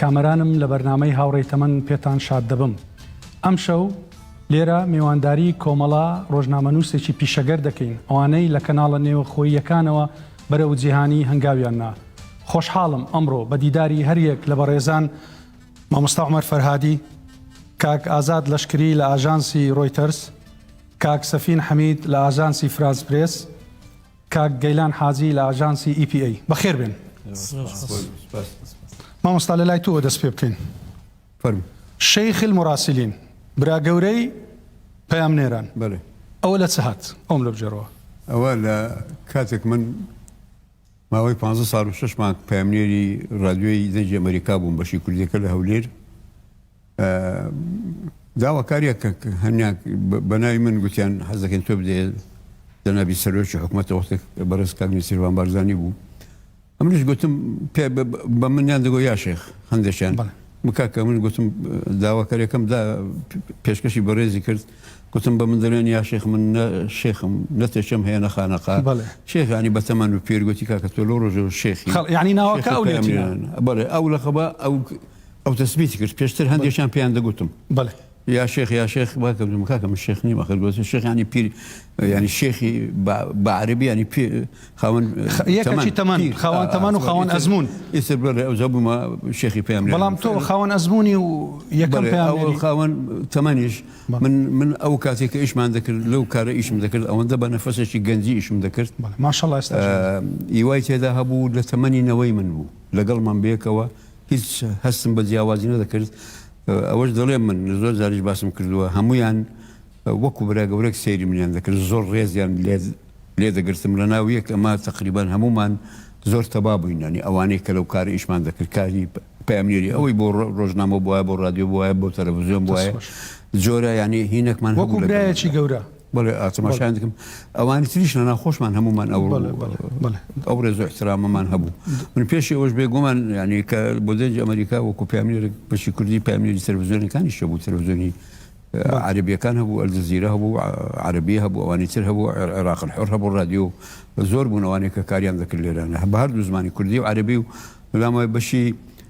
کامەرانم لە بەرنامەی هاوڕێی تەمەن پێتان شاد دەبم. ئەمشەو لێرە میوانداری کۆمەڵە ڕۆژنامەنووسێکی پیشەگەر دەکەین، ئەوانەی لە کەناڵە نێوەخۆییەکانەوە بەرەو جیهانی هەنگاویان نا. خۆشحاڵم ئەمڕۆ بە دیداری هەریەک لە بەڕێزان، مامۆستا عومەر فەرهادی، کاک ئازاد لەشکری لە ئاژانسی ڕۆیتەرز، کاک سەفین حەمید لە ئاژانسی فرانس پرێس، کاک گەیلان حاجی لە ئاژانسی ئی پی ئەی. بەخێر بێن. مامۆستا لەلای تۆوە دەست پێ بکەین. فەرموو. شیخ المراسلین، برا گەورەی پەیامنێران. بەلی. ئەوە لە چ هات؟ ئەوم لێ بگێڕەوە. ئەوە لە کاتێک من ماوەی پانزە ساڵ و شەش مانگ پەیامنێری ڕادیۆی دەنگی ئەمەریکا بووم بەشی کوردیەکە لە هەولێر، داواکاریە کە هەنیا بەناوی من گوتیان حەزەکەن تۆ بدێ جەنابی سەرۆکی حکوومەتە وەختێک بەڕێز کاک نسیروان بارزانانی بوو ئەمنیش گوتم پێ بە منیان دەگۆ یا شێخ هەندێکیان مکاکە من گوتم داواکاریەکەم دا پێشکەشی بەڕێزی کرد گوتم بە من دەلێن یا شێخ من شێخم نەتێکم هەیە نەخانەقا شێخانی بەتەمان و پێرگوتی کاکە تۆ لۆ ڕۆژە شێخ ینی ناوەکە بەڵێ ئەو لەخەبە ئەو ئەو تەسبیتی کرد پێشتر هەندێکیان پێیان دەگوتم بەڵێ یا شێخ یا شێخ وا کردم کاکە من شێخ نیم ئەخر گوتم شێخ ینی پیر ینی شێخی بە عەربی ینی پێ خاوەن یەکەچی تەمان خاوەن تەمان و خاوەن ئەزمون ئیتر بەڵێ ئەو زە بوومە شێخی پێم بەڵام تۆ خاوەن ئەزمونی و یەکەم پێیان خاوەن تەمەنیش من من ئەو کاتێک کە ئیشمان دەکرد لەو کارە ئیشم دەکرد ئەوەندە بە نەفەسێکی گەنجی ئیشم دەکرد ماشەڵ ئێستا ئیوای تێدا هەبوو لە تەمەنی نەوەی من بوو لەگەڵمان بێکەوە هیچ هەستم بە جیاوازی نەدەکرد، ئەوەش دەڵێم من زۆر جاریش باسم کردووە هەموویان وەکو برا گەورەک سەیری منیان دەکرد زۆر ڕێزیان لێ دەگرتم لەناو یەک ئەما تەقریبەن هەموومان زۆر تەبا بووین یانی ئەوانەی کە لەو کارە ئیشمان دەکرد کاری پەیامنێری ئەوەی بۆ ڕۆژنامە بووە بۆ ڕادیۆ بووە بۆ تەلەڤزیۆن بووە جۆرە یانی هینەکمان وەکو برایەکی گەورە بەڵێ ئا تەماشایان دەکەم ئەوانی تریش لە ناخۆشمان هەمومان ئەو بەڵێ بەڵێ بەڵێ ئەو ڕێز و احترامەمان هەبوو من پێشی ئەوش بێگومان یعنی کە بۆ دەنج ئەمریکا وەکو پامێرێک بەشی کوردی پامێری تەلەڤزیۆنەکانی شە بوو تەلەڤزیۆنی بەڵێ عەربیەکان هەبوو ئەلجزیرە هەبوو عە- عەرەبی هەبوو ئەوانی تر هەبوو عێر- عێراق الحر هەبوو ڕادیۆ زۆر بوون ئەوانەی کە کاریان دەکرد لێرانە بە هەردوو زمانی کوردی و عەرەبی و لەلام وای بەشی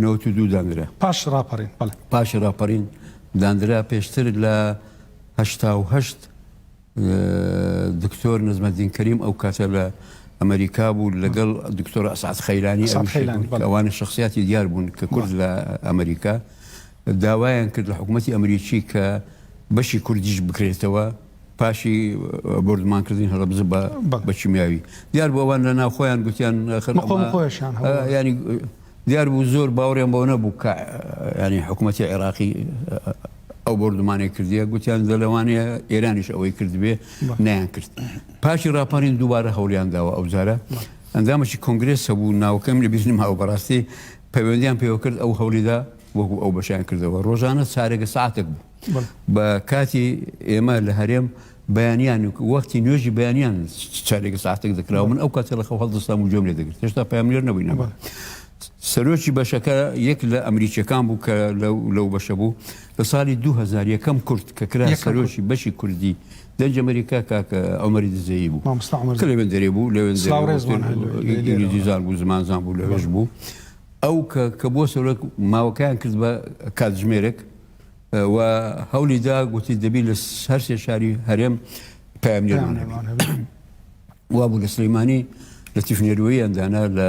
نەوەد و دوو دانرا. پاش ڕاپەڕین، بەڵێ. پاش ڕاپەڕین دانرا، پێشتر لە هەشتا و هەشت دکتۆر نەجمەدین کەریم ئەو کاتە لە ئەمەریکا بوو لەگەڵ دکتۆر ئەسعەد خەیلانی، ئەسعەد ئەویش خەیلانی، بەڵێ. ئەوانە شەخسیاتی دیار بوون کە کورد لە ئەمەریکا داوایان کرد لە حکوومەتی ئەمریکی کە بەشی کوردیش بکرێتەوە پاشی بۆردومانکردنی هەڵەبجە بە بەڵێ. بە کیمیاوی. دیار بوو ئەوان لە ناوخۆیان گوتیان ئاخر ئەمە مقۆمقۆیشیان هەبوو، بەڵێ. یانی دیار بوو زۆر باوریان بەوە نەبوو کە یانی حکوومەتی عێراقی ئەو بۆردومانێک کردیە گوتیان دە لەوانەیە ئێرانیش ئەوەی کردبێ نیان کرد پاشی راپارین دووبارە هەولیان داوە ئەو جارە ئەندامەی کۆنگرێس هەبوو ناوکەم لە بیرنم هاو بەڕاستی پەیوەندیان پێوە کرد ئەو هەولیدا وەکو ئەو بەشیان کردەوە ڕۆژانە چارێکە ساعتێک بوو بە کاتی ئێمە لە هەرێم بەیانیان و وەختی نوێژی بەیانیان چارێکە ساعتێک دەکرا من ئەو کاتێ لە خەو هەڵدەستام و جۆم لێ دەگرت هێشتا پامێر نەبووی نەبە. سەرۆکی بەشەکە یەک لە ئەمریکیەکان بوو کە لەو بەشە بوو لە ساڵی 2000 یەکەم کورد کە کرا سەرۆکی بەشی کوردی دەنج ئەمریکا کاکە ئەمەری دزەیی بوو لەوێن دەرێ بوو لەوێن دیزار بوو زمانزان بوو لەوێش بوو ئەو کە بۆ سەرۆک ماوەکەیان کرد بە کاتژمێرێک و هەولی دا گوتی دەبی لە هەر سێ شاری هەرێم پامنێرمان وا بوو لە سلەیمانی لە تیفنێروی ئەندانا لە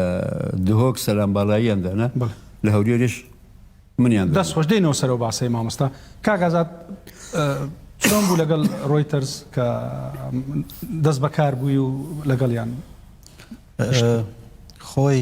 دهۆک سەلام باڵایی ئەندانا لە هەورێش منیان دەست خۆش دەینەوە سەرەوە باسەی مامۆستا کاگازات چۆن بوو لەگەڵ ڕۆیتەرز کە دەست بەکار بووی و لەگەڵیان خۆی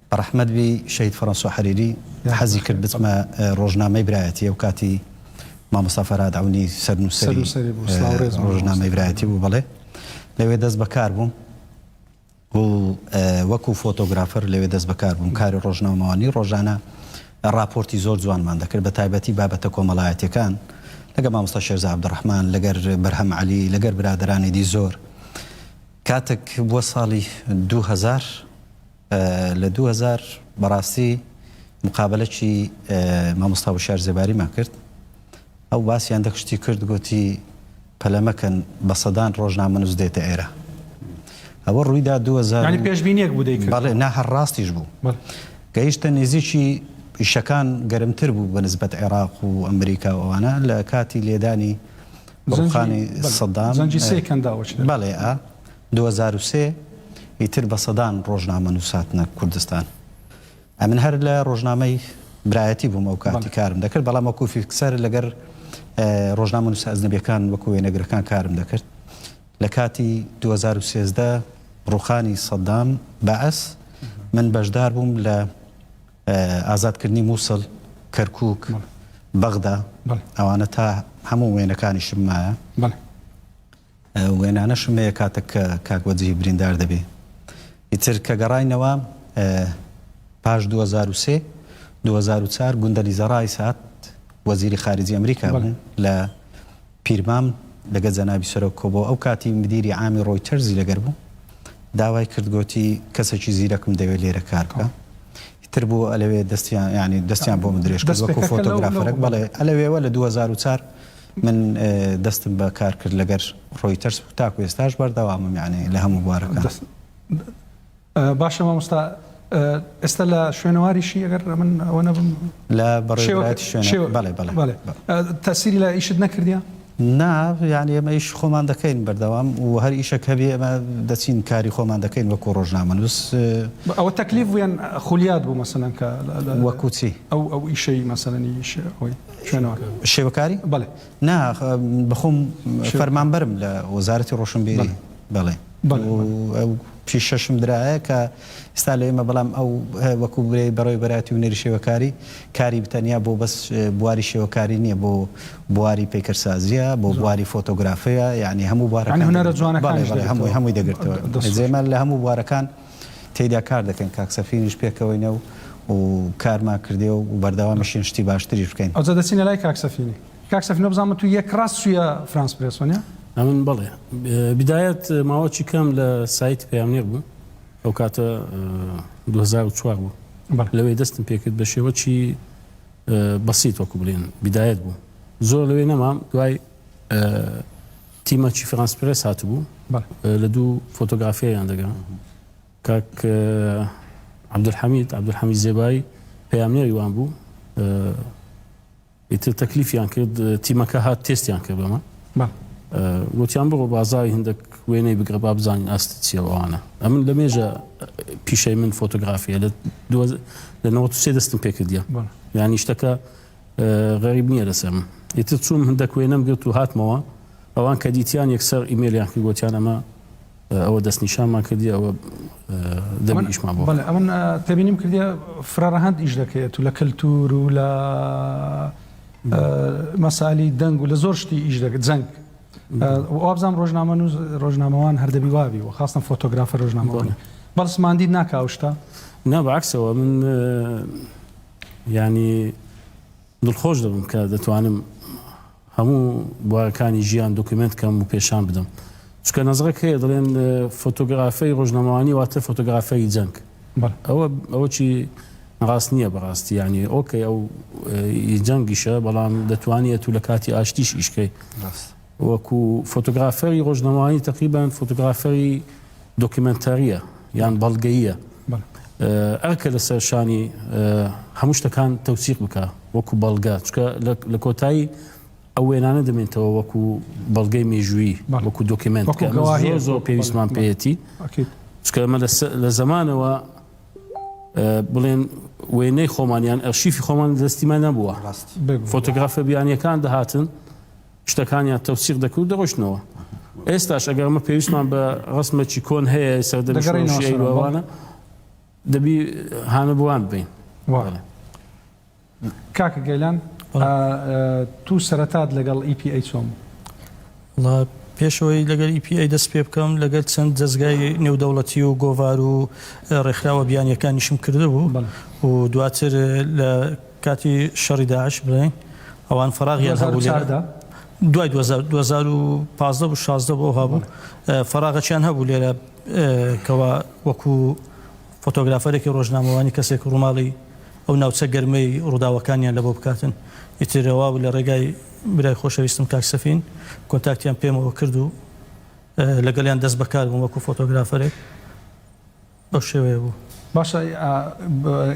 بەڕەحمەت بی شەهید فەرەنسۆ حەریری حەزی کرد بچمە ڕۆژنامەی برایەتی ئەو کاتی مامۆستا فەرهاد عەونی سەرنووسەری ڕۆژنامەی برایەتی بوو بەڵێ لەوێ دەست بەکار بووم و وەکو فۆتۆگرافەر لەوێ دەست بەکار بووم کاری ڕۆژنامەوانی ڕۆژانە ڕاپۆرتی زۆر جوانمان دەکرد بە تایبەتی بابەتە کۆمەڵایەتەکان لەگە مامۆستا شێرزا عەبدوڕەحمان لەگەر بەرهەم عەلی لەگەر برادرانی دی زۆر کاتێک بووە ساڵی دوو هەزار لە دوو هەزار بەڕاستی مقابەلەکی مامۆستا وشیار زێباریمان کرد ئەو باسیان دەکشتی کرد گوتی پەلەمەکەن بە سەدان ڕۆژنامەنووس دێتە ئێرە ئەوە ڕوویدا دو پێشبینێک بوو بەڵێ نا هەر ڕاستیش بوو گەیشتە نێزیکی پیشەکان گەرمتر بوو بە نسبەت عێراق و ئەمریکا و ئەوانە لە کاتی لێدانی ڕوخانی سەدام زەنجی سێ کەنداوە بەڵێ ئا دوو هەزار و سێ ئیتر بە سەدان ڕۆژنامە نووس هاتنە کوردستان ئەمن هەر لە ڕۆژنامەی برایەتی بووم ئەو کاتی کارم دەکرد بەڵام وەکو فیکسەر لەگەر ڕۆژنامە نووس ئەزنەبیەکان وەکو وێنەگرەکان کارم دەکرد لە کاتی 2013 ڕوخانی سەدام بەعس من بەشدار بووم لە ئازادکردنی مووسڵ کەرکک بەغدا ئەوانە تا هەموو وێنەکانیشم مایە وێنانەشم هەیە کاتەک کە کاک وەجیهی بریندار دەبێ ئیتر کە گەڕاینەوە پاش دوو هەزار و سێ دوو هەزار و چار گوندەلیزە ڕایس هات وەزیری خارجی ئەمریکا بوو لە پیرمام لەگە جەنابی سەرۆک کۆ بۆ ئەو کاتی مدیری عامی ڕۆیتەرزی لەگەر بوو داوای کردگۆتی کەسێکی زیرەکم دەوێت لێرە کار بکە تر بوو ئەلەوێ دەستیان ینی دەستیان بۆ من درێژ کردوەکو فۆتۆگرافەرەک بەڵێ ئەلەوێوە لە 2004 من دەستم بە کار کرد لەگەر ڕۆیتەرز و تاکو ئێستاش بەردەوامم یانی لە هەموو بوارەکان. دەست باشە مامۆستا ئێستا لە شوێنەواریشی ئەگەر من ئەوە نەبم لە بەڕێوەبەرایەتی شوێنە شێوە بەڵێ بەڵێ بەڵێ بە تەسیری لە ئیشت نەکردیە؟ نا یانی ئێمە ئیش خۆمان دەکەین بەردەوام و هەر ئیشەک هەبێ ئێمە دەچین کاری خۆمان دەکەین وەکو ڕۆژنامەنووس بە ئەوە تەکلیف بوویان خولیات بوو مەسەلەن کە لە وەکو چی؟ ئەو ئەو ئیشەی مەسەلەنی ئیش ئەوەی. شێوەکاری؟ بەڵێ. نا بەخۆم فەرمانبەرم لە وەزارەتی ڕۆشنبیری. بەڵێ. پیشەشم درایە کە ئستا لە ئێمە بەڵام ئەو وەکو برێ بەڕێ بەراتی و نەری شێوەکاری کاری بتەنیا بۆ بەس بواری شێوەکاری نییە بۆ بواری پیکەرسازیە بۆ بواری فۆتۆگرافەیە یعنی هەموو بوارەکان هەمووی هەمووی دەگرتەوە زێمە لە هەموو بوارەکان. تێیدا کار دەکەین کاک سەفینیش پێکەوەینە و کارمان کردێ و بەردەوامیشین شتی باشتریش بکەین. ئەوجا دەچینە لای کاک سەفینی. کاک سەفین بەبزانم تو یەک راست چویە فرانس پرێس وەنیە؟ ئەمن بەڵێ. بیدایەت ماوەکی کەم لە سایتی پەیامنێر بووم. ئەو کاتە دوو هەزار و چوار بوو. لەوێ دەستم پێکرد بە شێوەکی بەسیت وەکو بڵێن بیدایەت بوو. زۆر لەوێ نەمام دوای تیمەکی فرانس پرێس هاتبوو لە دوو فۆتۆگرافیایان دەگا کاک عبدالحمید عبدالحمید زێبایی پەیامنێری وان بوو ئیتر تەکلیفیان کرد تیمەکە هات تێستیان کرد بەمە وتیان بڕۆ بازاری هندێک وێنەی بگرە با بزانین ئاست چیەوەوانە ئەمن لە مێژە پیشەی من فۆتۆگرافیە لە لە نەوە سێ دەستم پێکردە یانی شتەکە غەریب نیە لەسەرم ئیتر چووم هندەک وێنەم گرت و هاتمەوە ئەوان کە دیتیان یەکسەر ئیمێلیان کرد گۆتیان ئەمە ئەوە دەست نیشانمان کردی ئەوە دەبیشمان بۆ بەڵێ ئەمن تێبینیم کردی فرەڕەهەند ئیش دەکەێت و لە کەلتور و لە مەسالی دەنگ و لە زۆر شتی ئیش دەکرد جەنگ وابزانام ڕۆژنامە و ڕۆژنامەوان هەردەبی وابی و خاستم فۆتۆگرافە ڕۆژنامەوانی بەڵسماندی ناکاوشتا نابعکسەوە من یانی دڵخۆش دەبم کە دەتوانم هەموو بوارەکانی ژیان دۆکیومنت کەم و پێشان بدەم چکە نەزڕێک هەیە دەڵێن فۆتۆگرافی ڕۆژنەمەوانی واتە فۆتۆگرافی جەنگ ئەوە ئەوە چی ڕاست نییە بەڕاستی ینی ئۆکەی ئەو جەنگیشە بەڵام دەتوانێت و لە کاتی ئاشتیش ئیشکەی وەکو فۆتۆگرافەری ڕۆژنەمایی تەقریبەن فۆتۆگرافەری دۆکیمێنتارییە یان بەڵگەییە ئەرکە لەسەر شانی هەموو شتەکان تەوسیق بکە وەکو بەڵگە چکە لە کۆتایی ئەو وێنانە دەمێنتەوە وەکو بەڵگەی مێژووی وەکو دۆکیمنت زۆر پێویستمان پێەتی چکە ئەمە لە زمانەوە بڵێن وێنەی خۆمانیان ئەرشیفی خۆمان دەستیمان نەبووە فۆتۆگرافە بیانیەکان دەهاتن شتەکانیان تەوسیق دەکرد و دەڕۆیشتنەوە. ئێستاش ئەگەر ئەمە پێویستمان بە ڕەسمێکی کۆن هەیە سەردەمی شۆڕشی دەگەڕێینەوە سەرەوە، بەڵێ. ئەیلووەوانە، دەبی هانە بۆ وان ببەین. وایە. کاکە گەیلان، ئا توو سەرەتات لەگەڵ ئی پی ئەی چۆن بوو؟ وەڵا پێش ئەوەی لەگەل ئی پی ئەی دەست پێ بکەم لەگەل چەند دەزگای نێودەوڵەتی و گۆڤار و ڕێکخراوە بیانییەکانیشم کردبوو بەڵێ. و دواتر لە، کاتی شەڕی داعش بڵێین ئەوان فەراغیان هەبوو لێرە. دوو هەزار و چواردە. دوای دوو هەزار دوو هەزار و پازدە بوو شازدە بوو ئەوها بوو. فەراغەکیان هەبوو لێرە کەوا وەکو فۆتۆگرافەرێکی ڕۆژنامەوانی کەسێک ڕووماڵی ئەو ناوچە گەرمەی ڕووداوەکانیان لەبۆ بکاتن. ئیتر ئەوها بوو لە ڕێگای برای خۆشەویستم کاک سەفین کۆنتاکتیان پێمەوە کرد و لەگەڵیان دەست بەکار بووم وەکو فۆتۆگرافەرێک. بەو شێوەیە بوو. باشە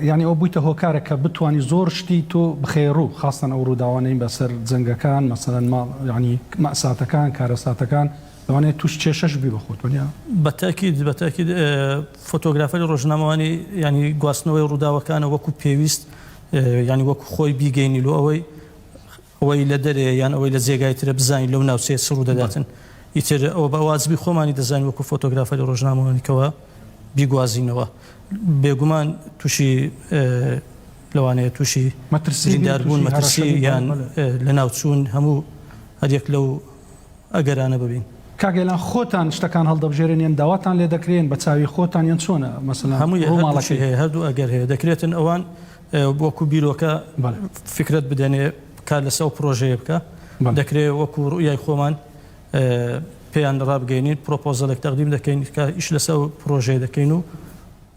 یانی ئەوە بوویتە هۆکارێک کە بتوانی زۆر شتی تۆ بخەیە ڕوو خاستەن ئەو ڕووداوانەی بەسەر جەنگەکان مەسەلەن ما یانی مەئساتەکان کارەساتەکان لەوانەیە تووش کێشەش بی بە خۆت وەنیا؟ بە تەئکید بە تەئکید فۆتۆگرافەری ڕۆژنامەوانی یانی گواستنەوەی ڕووداوەکانە وەکوو پێویست یانی وەکوو خۆی بیگەینی لۆ ئەوەی ئەوەی لە دەرەیە یان ئەوەی لە جێگای ترە بزانین لەو ناوچەیە چ ڕوودەداتن ئیتر ئەوە بە واجبی خۆمانی دەزانین وەکو فۆتۆگرافەری ڕۆژنامەوانی کەوە بیگوازینەوە بێگومان تووشی لەوانەیە تووشی مەترسیداربوون مەترسی یان لە ناوچوون هەموو هەریەک لەو ئەگەرانە ببین کاگەلان خۆتان شتەکان هەڵدەبژێرن یان داواتان لێ دەکرێن بە چاوی خۆتان یان چۆنە مەسەلا هەموو ماڵەکەی هەیە هەردوو ئەگەر هەیە دەکرێتن ئەوان وەکو بیرۆکە فیکرەت بدەنێ کار لەسەر ئەو پرۆژەیە بکە دەکرێت وەکو ڕوئیای خۆمان پێیان ڕابگەینین پرۆپۆزەلێک تەقدیم دەکەین کە ئیش لەسەر ئەو پرۆژەیە دەکەین و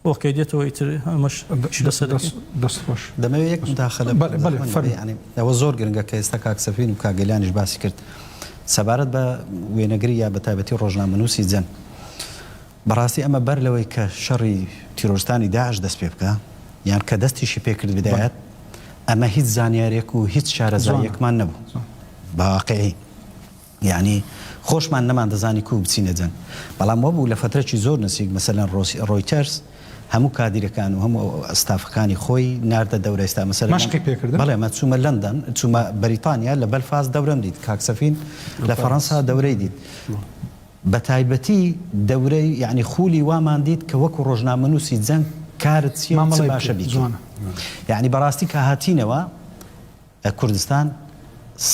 ئۆکەی دێتەوە ئیتر ئەمەش ئیش لەسەر دەست دەست خۆش دەمەوێت یەک مداخلە بەڵێ بەڵێ فەرموو یانی ئەوە زۆر گرنگە کە ئێستا کاک سەفین و کاک گەیلانیش باسی کرد سەبارەت بە وێنەگری یا بە تایبەتی ڕۆژنامەنووسی جەنگ بەڕاستی ئەمە بەر لەوەی کە شەڕی تیرۆرستانی داعش دەست پێ بکا یان کە دەستیشی پێ کرد بدایەت ئەمە هیچ زانیارێک و هیچ شارەزاییەکمان نەبوو بە واقعی یعنی خۆشمان نەمان دەزانی کو بچینە جەنگ بەڵام وەبوو لە فترەکی زۆر نسیک مەسەلەن ڕۆسی ڕۆیتەرس هەموو کادیرەکان و هەموو ئەستافەکانی خۆی ناردە دەورە ئێستا مەسەر مەشقی پێکردن بەڵێ مە چوومە لەندەن چوومە بەریتانیا لە بەلفاز دەورەم دیت کاکسەفین لە فەڕەنسا دەورەی دیت بەتایبەتی دەورەی یەعنی خولی وامان دیت کە وەکو ڕۆژنامەنوسی جەنگ کارت چیە و چ باشە بیکەی یەعنی بەڕاستی کە هاتینەوە کوردستان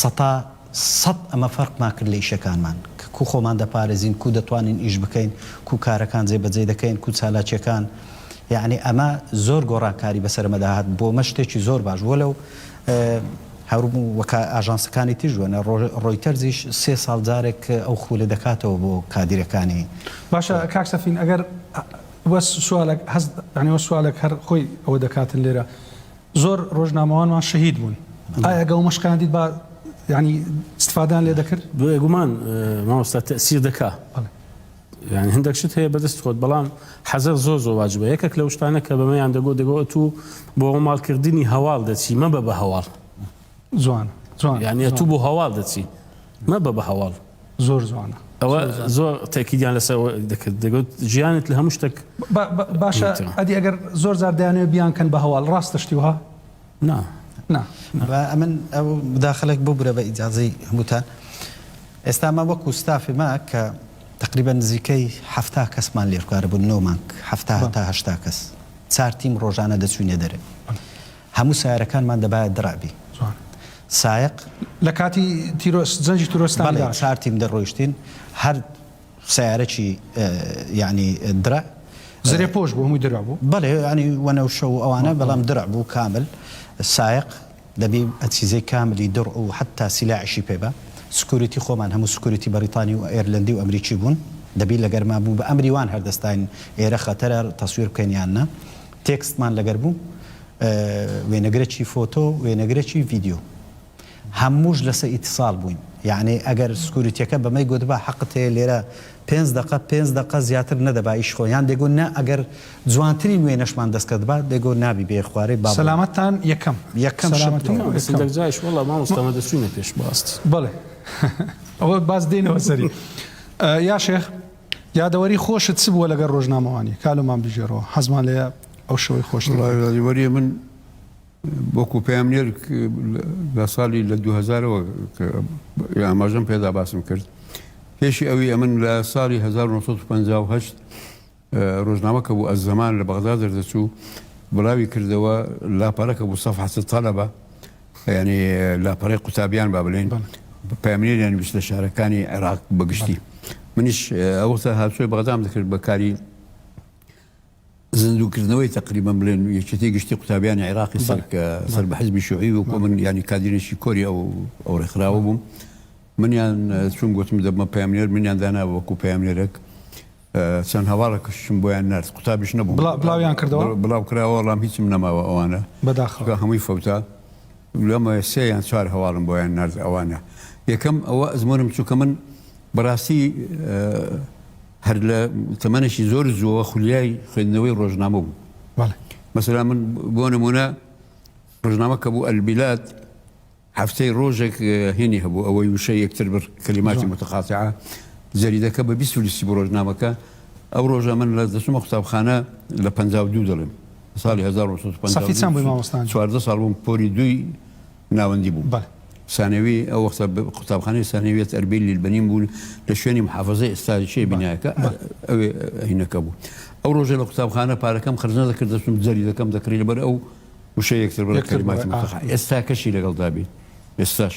سەتا سەد ئەمە فەرقمان کرد لە ئیشەکانمان کە کو خۆمان دەپارێزین کو دەتوانین ئیش بکەین کو کارەکان جێ بەجێ دەکەین کو چالاکیەکان یەعنی ئەمە زۆر گۆڕانکاری بەسەر ئەمەدا هات بۆمە شتێکی زۆر باش بوە لەو هەروو وەک ئاژانسەکانی تریش وەنە ڕۆیتەرزیش سێ ساڵ جارێک ئەو خولە دەکاتەوە بۆ کادیرەکانی. باشە کاک سەفین ئەگەر وەس سوالەک هەست یانی وەس سوالەک هەر خۆی ئەوە دەکاتن لێرە زۆر ڕۆژنامەوانمان شەهید بوون ئایا گەو مەشقیان دیت با یانی استفادەیان لێ دەکرد؟ بێگومان مامۆستا تەئسیر دەکا. یانی هەندەک شت هەیە بەدەست خۆت بەڵام حەزەر زۆر زۆر واجبە یەکەک لەو شتانە کە بەمەیان دەگۆ دەگۆ ئەتوو بۆ ماڵ کردنی هەواڵ دەچی مەبە بە هەواڵ جوان جوان یانی ئەتوو بۆ هەواڵ دەچی مەبە بە هەواڵ زۆر جوانە ئەوە زۆر تاکیدیان لەسەر دەکرد دەگوت ژیانت لە هەموو شتێک باشە ئەدی ئەگەر زۆر زار دەیانەوە بیان کەن بە هەواڵ ڕاستە شتی وها نا نا نا. با ئەمن ئەو مداخلەک ببورە بە ئیجازەی هەمووتان. ئێستا ئەمە وەکوو ستافی ما کە تەقریبەن نزیکەی حەفتا کەسمان لێرکارە بوون نۆ مانگ حەفتا هەتا هەشتا کەس چار تیم ڕۆژانە دەچووینە دەرێ هەموو سارەکانمان دەبایە دڕابی جوان سایق لە کاتی تیرۆس جەنجی ترۆستان بەڵێ چار تیم دەڕۆیشتین هەر سەیارەکی یانی درع. زرێ پۆش بوو هەمووی درع بوو. بەڵێ یانی وەنەوشە و ئەوانە بەڵام درع بوو کامل سایەق دەبی ئەچیزەی کاملی درع و حەتا سیلاحیشی پێ بە سکوریتی خۆمان هەموو سکوریتی بەڕیتانی و ئێرلەندی و ئەمریکی بوون دەبی لەگەر ما بوو بە ئەمری وان هەردەستاین ئێرە خەتەرە تەسویر بکەین یان نا تێکستمان لەگەر بوو وێنەگرەکی فۆتۆ و وێنەگرەکی ڤیدیۆ. هەمووش لەسە ئیتیصال بووین یەعنی ئەگەر سکوریتیەکە بەمەی گۆتبا حەقت هەیە لێرە پێنج دەقە پێنج دەقە زیاتر نەدەبا ئیش خۆی یان دەیگۆ نە ئەگەر جوانترین وێنەشمان دەست کەتبا دەیگۆ نابی بێ خوارێ با بڕۆین سەلامەتتان یەکەم یەکەم شت سەلامەتی بوو. بەڵێ سەلامەتی سەدەق جاش وەڵا مامۆستا مە دەچوینە پێش بەڕاستی. بەڵێ ئەوە باز دێنەوە سەری. یا شێخ یادەوەری خۆشت چ بووە لەگەر ڕۆژنامەوانی کالۆمان بگێڕەوە حەزمان لێیە ئەو شەوەی خۆشتر وەڵا یادەوەریە من وەکو پەیامنێر لە ساڵی لە دوو هەزارەوە ئاماژەم پێدا باسم کرد پێشی ئەوی ئەمن لە ساڵی 1950 ڕۆژنامەکە بوو ئە زەمان لە بەغدا دەردەچوو بڵاوی کردەوە لاپەرەکە بوو سەف حەسە تەلەبە ینی لاپەڕی قوتابیان با بڵێن پامنێریان ویست لە شارەکانی عێراق بەگشتی منیش ئەوەستا هاوچۆی بەغدام دەکرد بەکاری زیندووکردنەوەی تەقریبەن بڵێن یەکێتی گشتی قوتابیانی عێراقی سەر کە سەر بە حزبی شوعی و کۆ من ینی کادرێکی کۆری ئەو ئەو ڕێکخراوە بووم منیان چون گوتم دەبمە پامنێر منیان دانا وەکو پامنێرەک چەند هەواڵە کشتم بۆیان نرد قوتابیش نەبوو بڵاویان کردەوە بڵاو کراوە وەڵام هیچم نەماوە ئەوانە بەداخەکە هەمووی فەوتا لەمە سێ یان چوار هەواڵم بۆیان نرد ئەوانە یەکەم ئەوە ئەزمۆنم چووکە من بەڕاستی هەر لە تەمەنێکی زۆر زووەوە خولیای خوێندنەوەی ڕۆژنامە بوو. مەسەلا من بۆ نمونە ڕژنامە کە بوو ئەلبیلات هەفتەی ڕۆژێک هێنی هەبوو ئەوەی وشە یەکتر بر کەلیماتی متقاتع جەریدەکە بە بیست لیستی بۆ ڕۆژنامەکە ئەو ڕۆژە من لە دەچمە قوتابخانە لە پ دوو دەڵێم ساڵی 1950 ساڵ بووم پۆری دوی ناوەندی بوو. بەڵێ. سانەوی ئەو وەختە قوتابخانەی سانەویەت ئەربیل لیلبەنین بوو لە شوێنی محافەزەی ئێستا چیە بینایەکە ئەوێ هینەکە بوو. ئەو ڕۆژە لە قوتابخانە پارەکەم خەرج نەدەکرد دەچووم جەلی دەکەم دەکڕی لەبەر ئەو وشەی یەکتر بە کەلیماتی متەقە ئێستاکەشی لەگەڵدا بیت ئێستاش.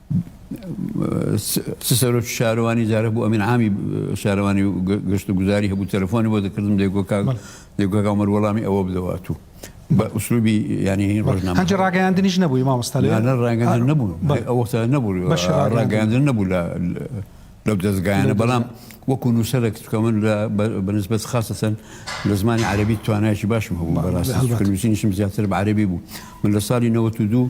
چ سەرۆکی شارەوانی جارە بوو ئەمین عامی شارەوانی و گەشت و گوزاری هەبوو تەلەفۆنی بۆ دەکردم دەگۆکاگەمەر وەڵامی ئەوە بدەوات و بە ئوسلوبی ینی ڕژنامەجی ڕاگەیاندنیش نەبووی مامۆستا ڕاگەندن نەبوو ئەوەستا نەبوو ڕاگەاندن نەبوو لە لەو دەستگایانە بەڵام وەکو نووسەرێک کە من لە بەنسبەت خاستەن لە زمانی عربی توانایکی باشم هەبوو بەڕاستنووسینیشم زیاتر بە عربی بوو من لە ساڵی 92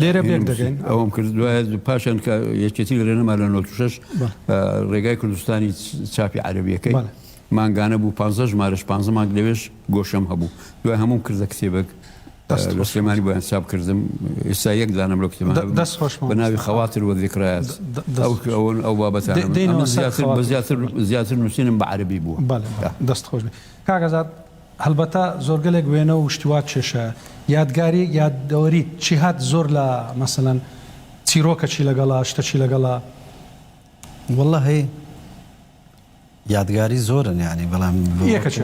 لێرە پێک دەگەین ئەوم کرد دوایە پاشان کە یەکێتی گرێنەما لە 96 ڕێگای کوردستانی چاپی عربیەکەی مانگانە بوو 15 ژمارش 15 مانگ لەوێش گۆشەم هەبوو دوای هەموم کردە کتێبێک لە سلێمانی بۆیان چاپ کردم ئێستا یەک دانم لە کتێب دەست خۆش بە ناوی خەواتر وە ذکرایات ئەوەن ئەو بابەتان زیاتر زیاتر نووسینم بە عربی بوو دەست خۆش کاگەزات هەڵبەتە زۆرگەلێک وێنە و شتی وا کێشە یادگاری یادەوەری چی هات زۆر لە مەسەلەن چیرۆکە چی لەگەڵە شتە چی لەگەڵە واللە هەی یادگاری زۆرن یانی بەڵام یەکە چ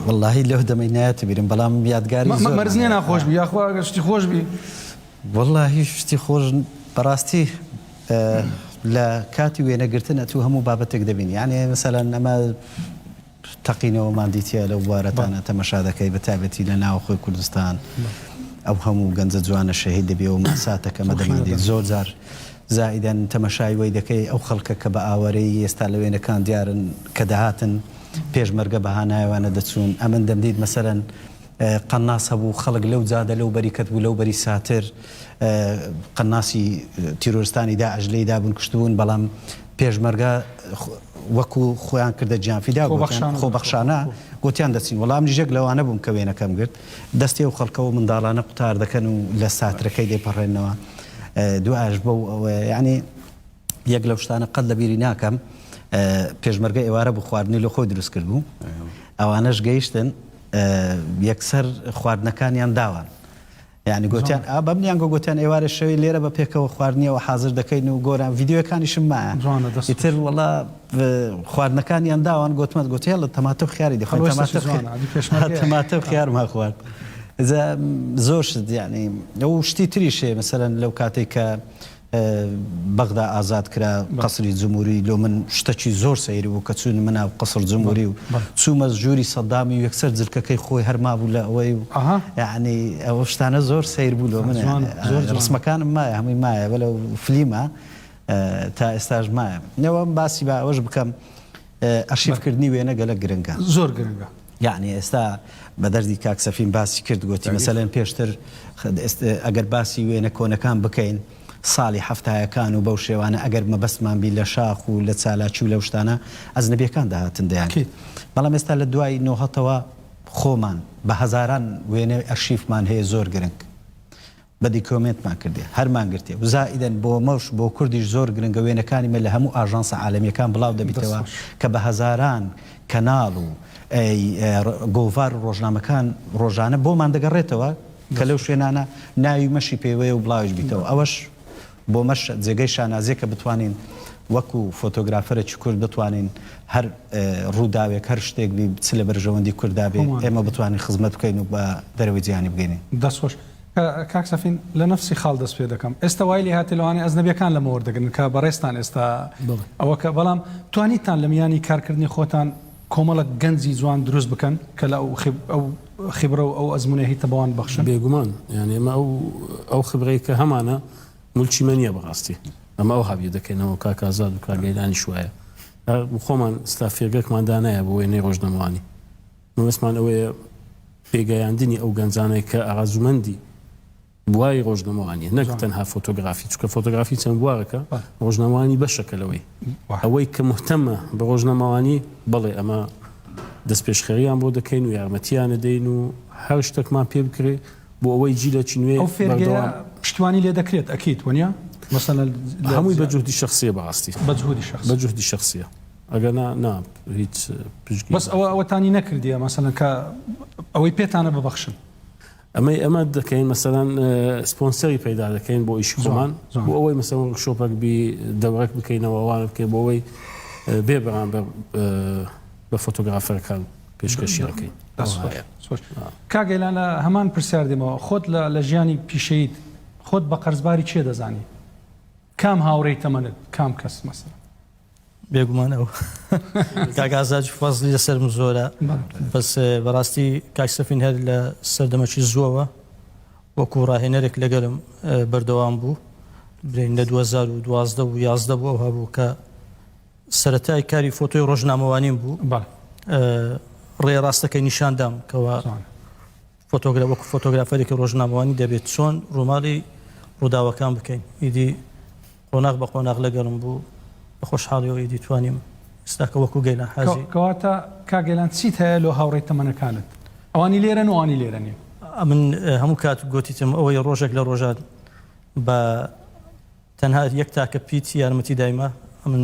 واللە هی لەو دەمەی نایەتی بیرم بەڵام یادگاری زۆر مەرز نیە ناخۆش بی یاخوا ئەگەر شتی خۆش بی واللە هی شتی خۆش بەڕاستی لە کاتی وێنەگرتن ئەتوو هەموو بابەتێک دەبین یانێ مەسەلەن ئەمە تەقینەوەماندی تیایە لەو بوارەتانە تەمەشا دەکەی بە تایبەتی لە ناوەخۆی کوردستان ئەو هەموو گەنجە جوانە شەهید دەبی و ماساتە کەمە دەماندی زۆر جار زائیدەن تەمەشای وەی دەکەی ئەو خەڵکە کە بە ئاوارەیی ئێستا لە وێنەکان دیارن کە دەهاتن پێشمەرگە بە هانایوانە دەچوون ئەمن دەمدیت مەسەلەن قەناس هەبوو خەڵک لەو جادە لەو بەری کەت بوو لەو بەری ساتر قەناسی تیرۆرستانی داعش لێی دابوون کوشتبوون بەڵام پێشمەرگە وەکو خۆیان کردە گیانفیدا گۆتیان خۆبەخشانە گۆتیان دەچین وەڵام نژێک لەوانە بووم کە وێنەکەم گرت دەستی و خەڵکەوە منداڵانە قوتار دەکەن و لە ساترەکەی دەپەڕێنەوە دوایش بۆ یعنی یەک لەو شتانە قەت لە بیری ناکەم پێشمەرگە ئێوارە بوو خواردنی لە خۆی دروست کرد بوو ئەوانەش گەیشتن یەکسەر خواردنەکانیان داوان یانی گۆتیان ئا بەم نیان گۆ گۆتیان ئێوارێ شەوی لێرە بە پێکەوە خواردنیەوە حازر دەکەین و گۆران ڤیدیۆیەکانیشم مایە جوانە دەست خۆش. ئیتر وەڵا خواردنەکانیان داوان گۆتمان گۆتی هێڵە تەماتە و خیاری دەخۆین هەڵۆ ئێستەشی تەماتە و جوانە ئەدی خیا پێشمەرگەیە تەماتە و ئا. خیارمان خوارد جا زۆر شت یانی و شتی تریش هەیە مەسەلەن لەو کاتەی کە بەغدا ئازاد کرا قەسری جموری لۆ من شتەکی زۆر سەیر بوو کە چووینمە ناو قەسر جموری و چوومە ژووری سەدامی و یەکسەر جلکەکەی خۆی هەر مابوو لە ئەوەی و یەعنی ئەوە شتانە زۆر سەیر بوو لۆ من ڕسمەکانم مایە هەمووی مایە بەلە فلیمە تا ئێستاش مایە نەوەم باسی با ئەوەش بکەم ئەرشیف کردنی وێنە گەلەک گرنگە. زۆر گرنگە. یەعنی ئێستا بە دەردی کاک سەفین باسی کرد گۆتی مەسەلەن پێشتر ئەگەر باسی وێنە کۆنەکان بکەین سالی حەفتایەکان و بەو شێوانە ئەگەر مەبەستمان بی لە شاخ و لە چالاکی و لەو شتانە ئەجنەبیەکان دەهاتن دەیان کرد بەڵام ئێستا لە دوای نۆهەتەوە خۆمان بە هەزاران وێنەی ئەرشیفمان هەیە زۆر گرنگ بە دیکۆمێنتمان کردێ هەر مان گرتێ و زائیدەن بۆ مەش بۆ کوردیش زۆر گرنگە وێنەکانی مە لە هەموو ئاژانسە عالەمیەکان بڵاو دەبیتەوە کە بە هەزاران کەناڵ و ر گۆڤار و ڕۆژنامەکان ڕۆژانە بۆمان دەگەڕێتەوە کە لەو شوێنانە ناوی مەشی پێوەیە و بڵاویش بیتەوە ئەوەش بۆ مەش جێگەی شانازیە کە بتوانین وەکو فۆتۆگرافەرێکی کورد بتوانین هەر ڕووداوێک هەر شتێک بی چ لە بەرژەوەندی کورددا بێ ئێمە بتوانین خزمەت بکەین و بە دەرەوەی جیهانی بگەینین. دەست خۆش. کاک سەفین لە نەفسی خاڵ دەست پێ دەکەم ئێستا وای لێهاتێ لەوانەیە ئەجنەبیەکان لەمە وەردەگرن کە بەڕێزتان ئێستا ئەوە کە بەڵام توانیتان لە میانی کارکردنی خۆتان کۆمەڵک گەنجی جوان دروست بکەن کە لە ئەو خبرە و ئەو ئەزمونە هیتە بەوان بەخشن بێگومان یانێ ئەمە ئەو ئەو خبرەی کە هەمانە ملکی مەنیە بەڕاستی ئەمە ئەو هاویە دەکەینەوە کاکازاد و کاگەیلانی شوایە خۆمان ستافیەگەکمان دانایە بۆ وێنەی ڕۆژنەمانی مەبەستمان ئەوەیە پێگەیاندنی ئەو گەنجانەی کە ئارەزوومەندی بواری ڕۆژنەمەوانیە نەک تەنها فۆتۆگرافی چکە فۆتۆگرافی چەند بوارەکە ڕۆژنەمەوانی بەشەکە لەوەی ئەوەی کە مهتەمە بە ڕۆژنەمەوانی بەڵێ ئەمە دەست پێشخەریان بۆ دەکەین و یارمەتیانە دەین و هەر شتێکمان پێ بکرێ بۆ ئەوەی جیلەکی نوێ ئەو فێرگەیە پشتوانی لێ دەکرێت ئەکیت وەنیە مەسەلەن هەمووی بە جهدی شخصیە بەڕاستی بە جهدی شخصیە ئەگەنا نا هیچ پشکی بەس ئەوە ئەوەتانی نەکردیە مەسەلەن کە ئەوەی پێتانە ببەخشن. ئەمەی ئەمە دەکەین مەسەلەن سپۆنسەری پەیدا دەکەین بۆ ئیشی خۆمان بۆ ئەوەی مەسە شۆپەک بی دەورەک بکەینەوە ئەوان بکەین بۆ ئەوەی بێ بەران بە فۆتۆگرافەرەکان پێشکەشیەکەین کاگەیلان لە هەمان پرسیار دێمەوە خۆت لە ژیانی پیشەیت خۆت بە قەرزباری چێ دەزانی کام هاوڕێی تەمەنت کام کەس مەسەر بێگومان ئەو کاک ئازاد فەزلی لەسەرم زۆرە بەس بەڕاستی کاک سەفین هەر لە سەردەمەکی زووەوە وەکو ڕاهێنەرێک لەگەرم بەردەوام بوو برین لە 2012 و 11 بوو ئەو هەبوو کە سەتای کاری فۆتۆی ڕۆژنامەوانیم بوو ڕێ ڕاستەکەی نیشاندام کەەوە فۆتۆگرا وەکو فۆتۆگرافەرێکی ڕۆژنامەوانی دەبێت چۆن ڕووماڵی ڕووداوەکان بکەین ئیدی قۆناغ بە قۆناغ لەگەڵم بوو بە خۆشحاڵیەوە ئیدی توانیم ئێستا کە وەکو گەیلان حاجی. کەواتە کاک گەیلان چیت هەیە لۆ هاوڕێی تەمەنەکانت ئەوانی لێرەن و ئەوانی لێرە نین؟ من هەموو کات گۆتیتم ئەوەی ڕۆژێک لە ڕۆژان بە تەنها یەک تاکە پیت یارمەتی دایمە ئەمن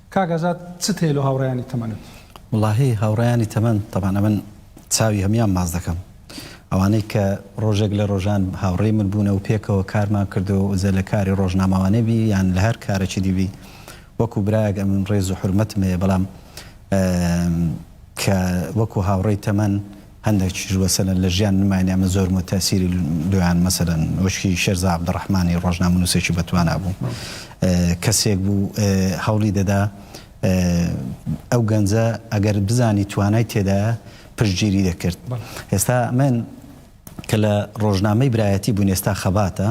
کاک ئازاد چت هەیە لۆ هاوڕێیانی تەمەنت؟ وەڵاهی هاوڕێیانی تەمەن تەبعەن ئەمن چاوی هەموان باس دەکەم ئەوانەی کە ڕۆژێک لە ڕۆژان هاوڕێی من بوونە و پێکەوە کارمان کردووە و جە لە کاری ڕۆژنامەوانی بی یان لە هەر کارەکی دی بی وەکو برایەک ئەمن ڕێز و حورمەتم هەیە بەڵام کە وەکو هاوڕێی تەمەن هەندەکیش وەسەلەن لە ژیان نماین یامە زۆرم و تەئسیری لۆیان مەسەلەن وەشکی شێرزا عەبدوڕەحمانی ڕۆژنامەنووسێکی بەتوانا بوو کەسێک بوو هەوڵی دەدا ئەو گەنجە ئەگەر بزانی توانای تێدایە پشتگیری دەکرد ئێستا من کە لە ڕۆژنامەی برایەتی بووین ئێستا خەباتە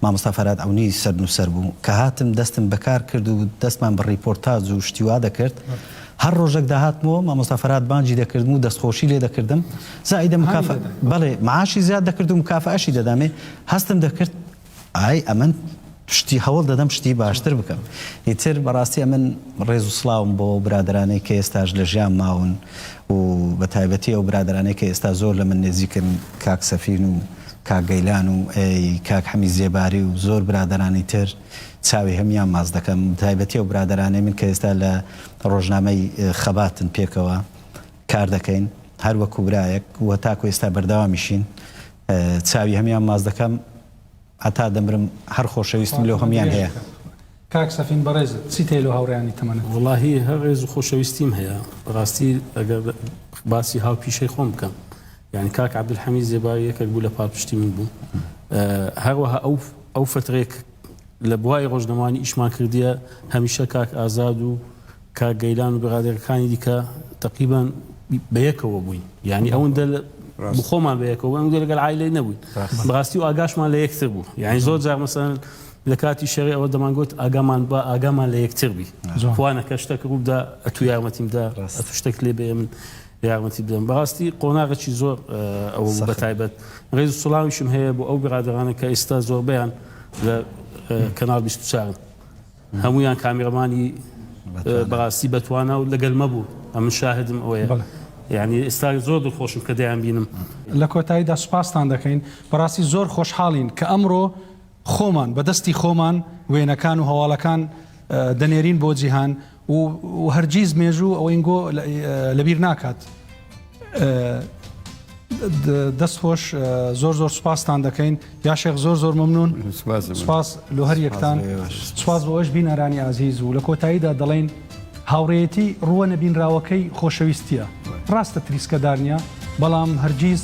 مامۆستا فەراد عەونی سەرنووسەر بوو، کە هاتم دەستم بە کار کرد و دەستمان بە ڕیپۆرتاج و شتی وا دەکرد، هەر ڕۆژەک داهاتمەوە مامۆستا فەراد بانگی دەکردم و دەستخۆشی لێ دەکردم، زائیدە مکافە، بەڵێ معاشی زیاد دەکرد و مکافەئەشی دەدامێ، هەستم دەکرد ئای ئەمن شتی هەوڵ دەدەم شتی باشتر بکەم، ئیتر بەڕاستی ئەمن ڕێز و سڵاوم بۆ ئەو برادەرانەی کە ئێستاش لە ژیان ماون و بە تایبەتی ئەو برادەرانەی کە ئێستا زۆر لە من نێزیکن کاک سەفین و کاک گەیلان و کاک حەمید زێباری و زۆر برادەرانی تر چاوی هەموویان ماچ دەکەم بەتایبەتی ئەو برادەرانەی من کە ئێستا لە ڕۆژنامەی خەباتن پێکەوە کار دەکەین هەر وەکو برایەک و تاکو ئێستا بەردەوامیشین چاوی هەموویان ماچ دەکەم هەتا دەمرم هەر خۆشەویستیم لۆ هەموویان هەیە. کاک سەفین بەڕێزت چی تەیە لۆ هاوڕێیانی تەمەنت؟ وەڵاهی هەر ڕێز و خۆشەویستیم هەیە بەڕاستی ئەگەر باسی هاوپیشەی خۆم بکەم یانی کاک عەبدولحەمید زێباری یەکێک بوو لە پاڵپشتی من بوو هەروەها ئەو ئەو فترێک لە بواری ڕۆژنەمانی ئیشمان کردیە هەمیشە کاک ئازاد و کاک گەیلان و بغادەکەکانی دیکە تەقریبەن بەیەکەوە بووین یانی ئەوەندە بخۆمان بەیەکەوە بووین ئەوەندە لەگەڵ عایلەی نەبووین بەڕاستی و ئاگاشمان لە یەکتر بوو یانی زۆر جار مەسەن لە کاتی شەڕی ئەوە دەمانگوت ئاگامان با ئاگامان لە یەکتر بی خوانەکە شتەکە ڕووبدا ئەتوو یارمەتیمدا ئەتوو شتێک لێ بێ من یارمەتی بدەم بەڕاستی قۆناغەکی زۆر ئەوە بوو بە تایبەت ڕێز و سڵاویشم هەیە بۆ ئەو برادەرانە کە ئێستا زۆربەیان لە کەناڵ 24 هەموویان کامێڕمانی بەڕاستی بەتوانا و لەگەل مە بوو ئەمن شاهدم ئەوەیە یانی ئێستا زۆر دڵخۆشم کە دەیان بینم. لە کۆتاییدا سوپاستان دەکەین بەڕاستی زۆر خۆشحاڵین کە ئەمڕۆ خۆمان بە دەستی خۆمان وێنەکان و هەواڵەکان دەنێرین بۆ جیهان و هەرگیز مێژوو ئەوینگۆ لەبیر ناکات. دەست خۆش زۆر زۆر سوپاستان دەکەین یاشێخ زۆر زۆر ممنون سپاس لۆ هەر یەکتان سپاس بۆ ئەوش بینەرانی ئازیز و لە کۆتاییدا دەڵێن هاوڕێتی ڕووە نەبینراوەکەی خۆشەویستە ڕاستە تریسکەدار نیە بەڵام هەرگیز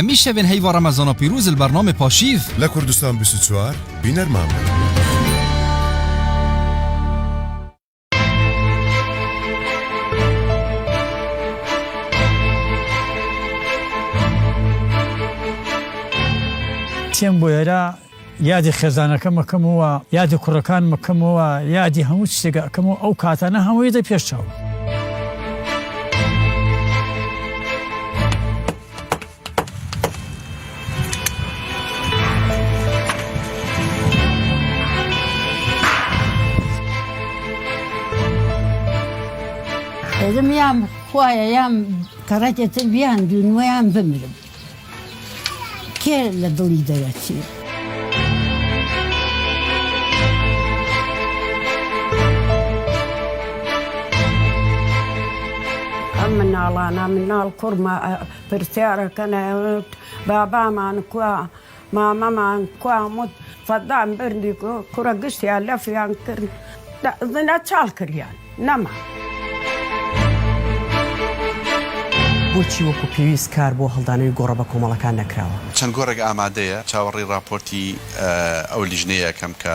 هەمیشە بێن هەیوا ڕەمەزانە پیروز البرنامە پاشیڤ لە کوردستان 24 بینەرمان بن. تێم بۆ ئێرە یادی خێزانەکەم ئەکەمەوە، یادی کوڕەکانم ئەکەمەوە، یادی هەموو شتێک ئەکەمەوە ئەو کاتانە هەمووی دە پێش چاوم. دەبم یام خوایە یام کەڕەتێتر بیان دوونوەیان بمرم. کێ لە دڵی دەرەچێ؟ ئەم مناڵانە مناڵ کوڕمە پرسیارەکەن ئەڵێن بابامان کوا؟ مامەمان کوام وت فەدان برنی گو کورە گشتیان لەفیان کرد دە زنە چاڵ کریان نەما. بۆچی وەکو پێویست کار بۆ هەڵدانەوەی گۆڕە بەکۆمەڵەکان نەکراوە؟ چەند گۆڕێک ئامادەیە، چاوەڕێی ڕاپۆرتی ئەو لیژنەیە ئەکەم کە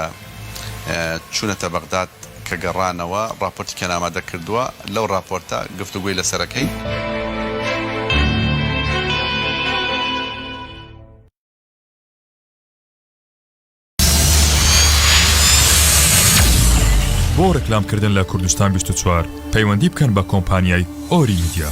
چوونەتە بەغداد کە گەڕانەوە ڕاپۆرتیکیان ئامادە کردووە، لەو ڕاپۆرتە گفتوگۆی لەسەر ئەکەین. بۆ ڕکلامکردن لە کوردستان 24 پەیوەندی بکەن بە کۆمپانیای ئۆری میدیا.